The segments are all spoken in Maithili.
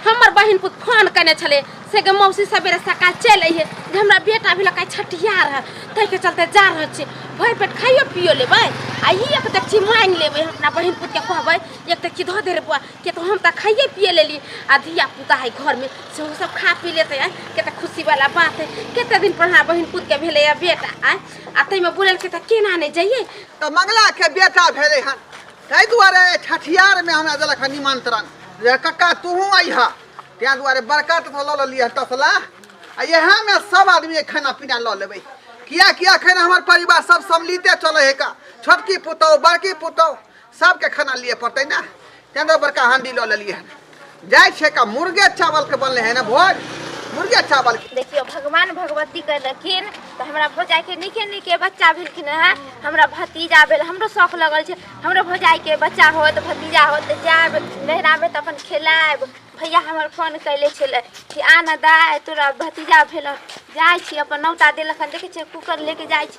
हमर बहिन पुत फोन कने छले से के मौसी सवेरे सकाल चल अइहे जे हमरा बेटा भी लकाय छठिया रह तै के चलते जा रह छी भर पेट खाइयो पियो लेबै आ ई एक तक छी मांग लेबै हम अपना बहिन पुत के कहबै एक तक छी धो दे रे बुआ के तो हम त खाइए पिए लेली आ धिया पुता है घर में से वो सब खा पी लेते आय के त खुशी वाला बात है केते दिन पर हमरा बहिन पुत के भेले या बेटा आय आ तै में बोलल के त केना ने जाइए तो मंगला के बेटा भेले हन ताहि दुआरे छठियारमे हमरा देलक हँ निमन्त्रण जे कक्का तूहूँ अइहा ताहि दुआरे बड़का तसला लऽ लेलियै तसला आ इएहमे सब आदमी खाना पीना लऽ लेबै किएकि एखन हमर परिवार सब सम्मिलिते चलै है का छोटकी पुतहु बड़की पुतहु सबके खाना लिए पड़तै ने ताहि दुआरे बड़का हांडी लऽ लेलियै हन जाय छै का मुर्गे चावल के बनले है ना भोज मुर्गे चावल के देखियो भगवान भगवती कहलखिन तो हमरा भौजाई के निके निके बच्चा भेलखिन है हमरा भतीजा भेल हमरो शौक लगल छै हमरो भौजाई के बच्चा होत भतीजा होत तऽ जायब नैहरा में तऽ अपन खेलायब भैया हमर फोन कैले छलै कि आ ना दाय तोरा भतीजा भेल जाइ छी अपन नौता देलखन देखै छियै कुकर लेके जाइ छी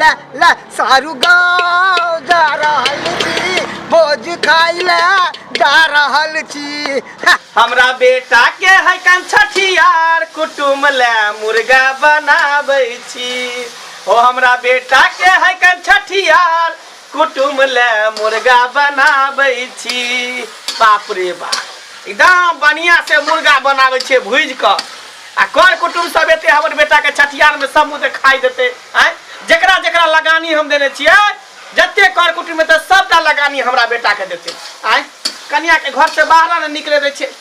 ला ला सारू गाँव जा रहल छी भोज खाइ ले जा रहल छी हा, हमरा बेटा के है कन छठियार कुटुम ले मुर्गा बनाबै छी ओ हमरा बेटा के है कन छठियार कुटुम ले मुर्गा बनाबै छी बाप रे बाप एकदम बढ़िया से मुर्गा बनाबै छियै भूज कऽ आ कर कुटुम सब एते हमर बेटा के छठियार में समूह से खाइ देते आय जकरा जकरा लगानी हम देने छियै जते कर कुटुम एतै सबटा लगानी हमरा बेटा के देते आय कनिया के घर से बाहर ने निकले दै छियै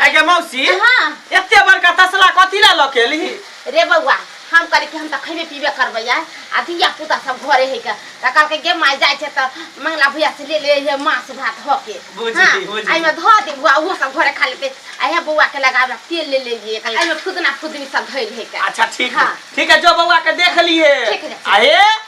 आइ गे मौसी हाँ एते बड़का तसला कथी ला लऽ के एलही रे बौआ हम कहली कि हम तऽ खैबे पीबे करबै आइ आ धिया पुता सब घरे है के तऽ कहलकै गे माय जाइ छै तऽ मंगला भैया से ले ले हे मांस भात धऽ के बुझि हाँ, गेली, बुझि एहिमे धऽ दे बौआ ओहो सब घरे खा लेतै आ हे बौआ के लगाबे तेल ले ले लिए एहिमे फुदना फुदनी सब धैल है के अच्छा ठीक है हाँ। ठीक है जो बौआ के देख लिए ठीक है, ठीक है। अरे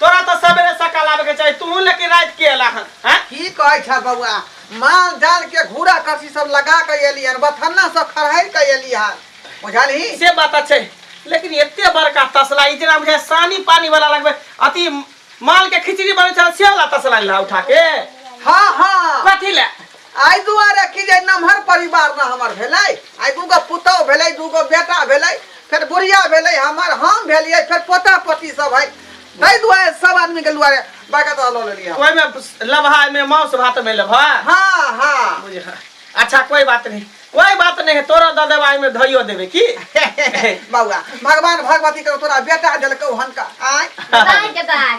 तोरा तो सवेरे सकाल आवे के चाहिए तू लेकिन रात के अला हन हैं की कहै छ बौआ माल जाल के घूरा करसी सब लगा के एली हन बथन्ना सब खरहै के एली हन बुझलही से बात अच्छे लेकिन एते बड़का तसला ई जेना बुझाय सानी पानी वाला लगबे अति माल के खिचड़ी बनै छल से वाला तसला ला उठा के हां हां कथी ले एहि दुआरे कि जे नमहर परिवार ने हमर भेलै आइ दूगो पुतहु भेलै दूगो बेटा भेलै फेर बुढ़िया भेलै हमर हम भेलियै फेर पोता पोती सब है ताहि दुआरे सब आदमी के दुआरे बड़का दादा लऽ लेलियै हम। ओहिमे लबहा में मांस भात में लबहा हाँ हाँ बुझ हाँ। अच्छा कोई बात नहीं कोई बात नहीं है तोरा दऽ देबा एहिमे धइयो देबे की बौआ भगवान भगवती के तोरा बेटा देलकौ हन का आय दाय के दाय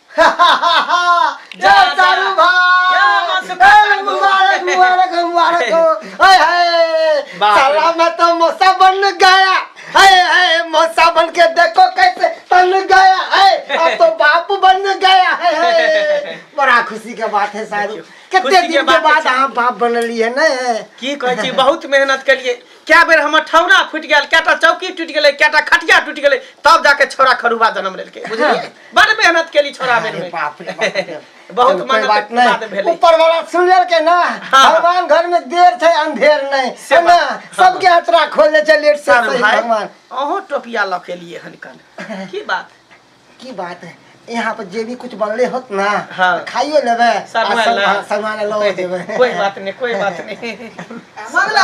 खुशी के बात है शायद कितने दिन के बाद अहाँ बाप बनलिए ने की कहै छी बहुत मेहनत करिए क्या बेर हमर ठौना फुटि गेल कएटा चौकी टूटि गेलै कएटा खटिया टूटि गेलै तब जाके छोरा खरुबा जन्म लेलकै बुझलिए बड़ मेहनत केली छोड़ा बेर अरे में बाप रे बाप रे। बहुत चलो, कोई मेहनत बात के बाद नहीं भेलै ऊपर वाला सुन लेल के ना हाँ। भगवान घर में देर थे अंधेर नहीं से है ना बात- हाँ। सबके हथरा खोल दे छै लेट से सर सही भाई भगवान अहो टोपिया लऽ के लिए हन कन की बात की बात है यहाँ पर जे भी कुछ बनले होत ना हाँ। तो खाइयो लेबे आ सगुआ सब- ला। हाँ, सगुआ ला लऽ जेबे कोई बात नहीं कोई बात नहीं मंगला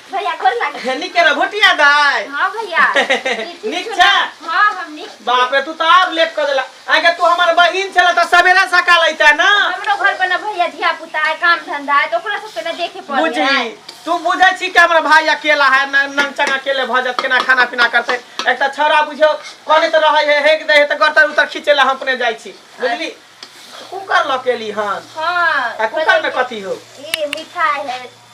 भैया गोर लगे निक रह भोटिया दाय हाँ भैया निक छ हाँ हम निक बाप रे तू तो और लेट कर देला आगे तू हमर बहिन छला त सवेरा सकाल आइता ना हमरो घर पर ना भैया धिया पुता है काम धंधा है तो ओकरा सब के ना देखे पड़े बुझी तू बुझे छी कि हमर भाई अकेला है न नंग चंग अकेले भ जात केना खाना पीना करते एक त छोरा बुझो कोने त रहे है हेक दे त गरतर उतर खींचेला हम अपने जाई छी बुझली कुकर लकेली हन हां कुकर में कथी हो ई मिठाई है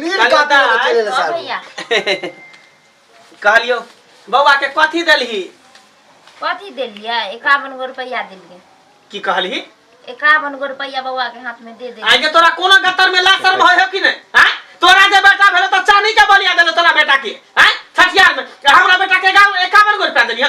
लीड चल कापी बता, में चले ले हाँ साहब भैया कहलियो बौआ के कथी देलही कथी देलियै एकावन गो रुपैआ देलियै की कहलही एकावन गो रुपैआ बौआ के हाथ में दे दे आगे तोरा कोनो गतर में लासर भय हो कि नहीं हैं? तोरा जे बेटा भेलो तो चानी के बलिया देलो तोरा बेटा के हैं? छठियार में हमरा बेटा के गाँव एकावन गो रुपया देलिया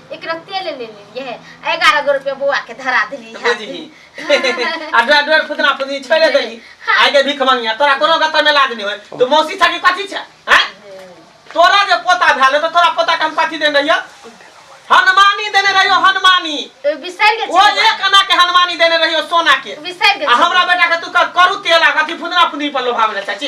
एकरा तेल ले लेलिए है एगारह गो रुपया बौआ के धरा देली है बुझी आ डर डर फुदना फुदनी छोड़े देली आइ के भीख मंगिया तोरा कोनो गत में लाज नहीं होय तो मौसी छकी कथी छै हैं तोरा जे पोता भेल तो तोरा पोता के हम कथी देने रहियो हनुमानी देने रहियो हनुमानी बिसर गेल ओ छी एक आना के हनुमानी देने रहियो सोना के बिसर गेल आ छी। हमरा बेटा के तू कर- करू तेल आ कथी फुदना फुदनी पर लोभावे चाची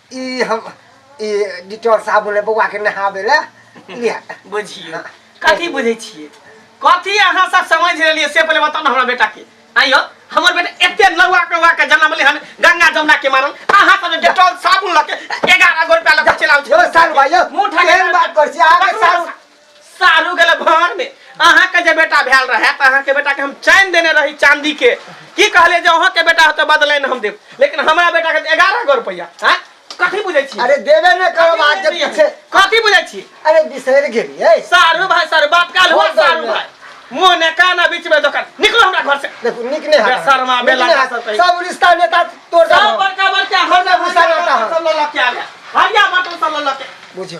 ई हम ई डिटॉल साबुन है बौआ के नहावे ला लिया बुझियो कथी बुझे छिए कथी अहाँ सब समझ रहलिए से पहले बताओ ना हमरा बेटा के आइयो हमर बेटा एते नौआ कौआ के जन्म ले हन गंगा जमुना के मारल अहाँ सब डिटॉल साबुन लके 11 गो रुपया लके चलाउ यो साल भाई यो मुंह ठा के- केहन बात कर छी आगे साल सारू गेले भान में अहाँ के जे बेटा भेल रहे त अहाँ के बेटा के हम चैन देने रही चांदी के की कहले जे अहाँ के बेटा होते बदलैन हम देब लेकिन हमरा बेटा के 11 गो रुपया हैं कथी बुझै छी अरे देवे न करो बात जब पीछे कथी बुझै छी अरे बिसर गेली है सारू भाई सारू बात काल हुआ सारू भाई मुंह ने काना बीच में दोकान निकलो हमरा घर से देखो निक ने बे शर्मा, बे लाटा सब कही। सब रिश्ता नेता तोड़ सब दो बड़का बड़का हम ना घुसा रहता है। सब ललक के आ गया हरिया बटन सब ललक के बुझो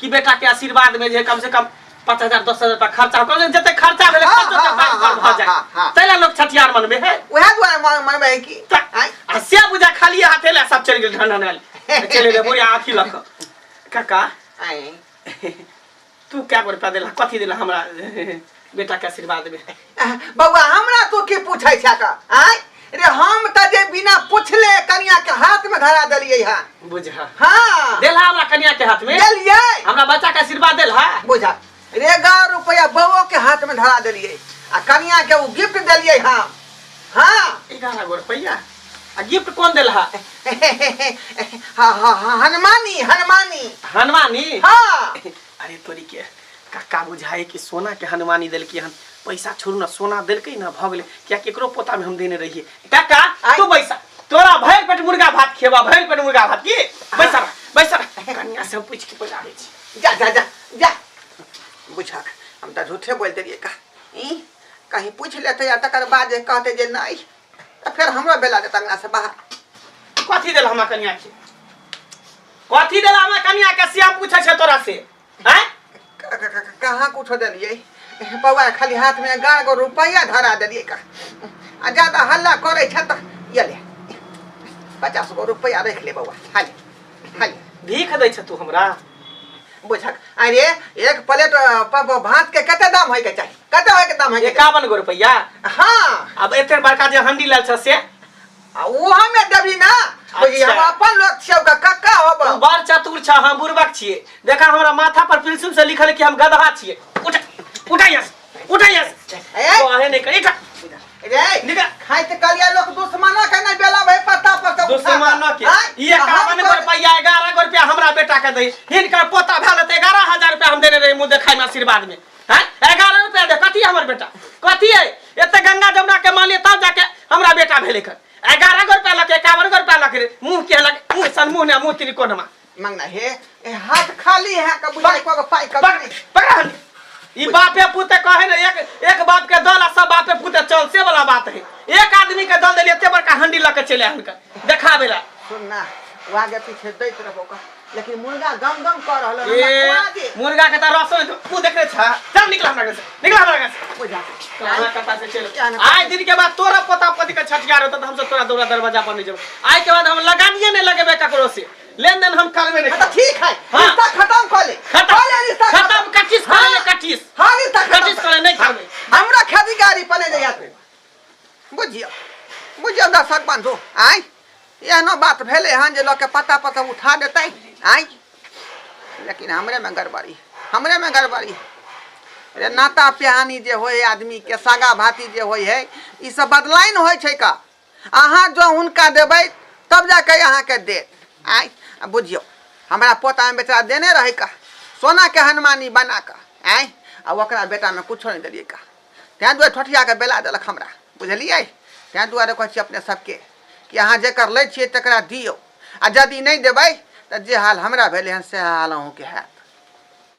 कि बेटा के आशीर्वाद में जे कम से कम पाँच हजार दस हजार रुपया खर्चा हो कहलियै जते खर्चा भेलै हाँ, खर्चो हाँ, तऽ हाँ, पर भऽ हाँ, जाय हाँ, हाँ। तै लए लोक छठियार मनबे है उहे दुआरे मन मन में है कि तऽ आँय? आ से बुझा खाली हाथे लए सब चलि गेल ढनढनायल चलि गेल बुढ़िया आँखि लऽ कऽ काका आँय। तू कए गो रुपया देला कथी देला हमरा बेटा के आशीर्वाद देबे आह, बौआ हमरा तो की पूछै छै का आय रे हम त जे बिना पूछले कनिया के हाथ में धरा देलियै हा बुझा हां देला हमरा कन्या के हाथ में देलियै हमरा बच्चा के आशीर्वाद देला बुझा रे एगारह रुपया बौओ के हाथ में धरा देलियै आ कनिया के उ गिफ्ट देलियै हम हां एगारह गो रुपया आ गिफ्ट कौन देला हा हा हा हनुमानी हनुमानी हनुमानी हां अरे तोरी के काका बुझाए कि सोना के हनुमानी देलकी हन पैसा छोड़ू ना सोना देलकै ना भऽ गेलै किया केकरो पोता में हम देने रहिए काका आइ। तू बैसा तोरा भरि पेट मुर्गा भात खेबा भरि पेट मुर्गा भात की बैसा रह, बैसा रह। कन्या से हम पूछ के पैसा आबै छी जा जा जा जा बुझा हम तऽ झूठे बोल देलियै का ई कहीं पूछ लेतै आ तकर बाद जे कहतै जे नहि तऽ फेर हमरा बेला देत अंगना से बाहर कथी देला हमरा कनिया के कथी देला हमरा कनिया के सिया पूछे छै तोरा से हैं क- क- क- कहाँ कुछो देलियै पौआ खाली हाथ में गाड़ गो रुपैया धरा देलियै का आ ज्यादा हल्ला करै छै तऽ ये ले पचास गो रुपैया राखि ले बौआ हाले हाले भीख दै छै तू हमरा बुझक अरे एक प्लेट अ, प- प- भात के कते दाम होय के चाहिए कते होय के दाम होय के चाहिए? एकावन गो रुपैया हाँ अब एते बड़का जे हंडी लाल छ से आ वो हमें देबी ना बुझी अच्छा। हम अपन लोग छियौ का कक्का तू होबो बड़ चतुर छ हम बुर्बक छिए देखा हमरा माथा पर पिलसुम से लिखल है कि हम गधा छिए उठ उठा यहाँ से। उठा यहाँ से ए, तो आने नहीं करी उठा रे निकल खाई ते कलिया लोग दुश्मना के नहीं बेला भाई पत्ता पर से उठा दुश्मन न के आय, ये आ हम कावन तो- रुपया ग्यारह गो रुपया हमरा बेटा के दई हिनकर पोता भेल ते ग्यारह हजार रुपया हम देने रही मुँह देखाई में आशीर्वाद में हैं ग्यारह रुपया दे कथी है हमर बेटा कथी है एते गंगा जमुना के मानिए तब जाके हमरा बेटा भेले कर ग्यारह गो रुपया लके एकावन गो रुपया लके रे मुँह के लगे मुँह सन मुँह ने मुँह तिरिकोनमा मंगना हे ए हाथ खाली है का बुझाई को पाई का पकड़ पकड़ ई बापे पुते कहे ने एक एक बाप के दल आ सब बापे पुते चल से वाला बात है एक आदमी के दल देलिए ते बड़का हंडी लके चले हनका देखावे ला सुन ना वो आगे पीछे दैत रहो का लेकिन मुर्गा गम गम कर रहल हमरा ए खुआ दे मुर्गा के त रसो में तू देख रे छा चल निकल हमरा घर से निकल हमरा घर से बुझा कहाँ कथा से चल क्या ना- आए दिन के बाद तोरा पोता पोती के छठियार होता तो हमसे तोरा दौरा दरवाजा पर नहीं जब आए के बाद हम लगानिए नहीं लगेबे ककरो से लेन देन हम करबे नहीं अच्छा ठीक है हाँ। रिश्ता खत्म कर ले खत्म कर ले रिश्ता खत्म कटिस कर ले कटिस हाँ रिश्ता खत्म कटिस कर ले नहीं करबे हमरा खेती गाड़ी पने जाइया तू बुझियो बुझियो हमरा सक बांधो आय एहनो बात भेले हन जे लोग के पता पता उठा देते आय लेकिन हमरे में गड़बड़ी हमरे में गड़बड़ी रे नाता प्यानी जे होय आदमी के सगा भाती जे होय है ई सब बदलाइन होय छै का अहाँ जँ हुनका देबै तब जा कऽ अहाँके देत आइ बुझियौ हमरा पोतामे बेचारा देने रहै का सोनाके हनुमानी बना कऽ आँय आ ओकरा बेटामे किछो नहि देलियै का तैँ दुआरे ठोठियाके बेला देलक हमरा बुझलियै तैँ दुआरे कहै छी अपने सभके कि अहाँ जकर लै छियै तकरा दियौ आ यदि नहि देबै तऽ जे हाल हमरा भेलै हन सएह हाल अहूँके हैत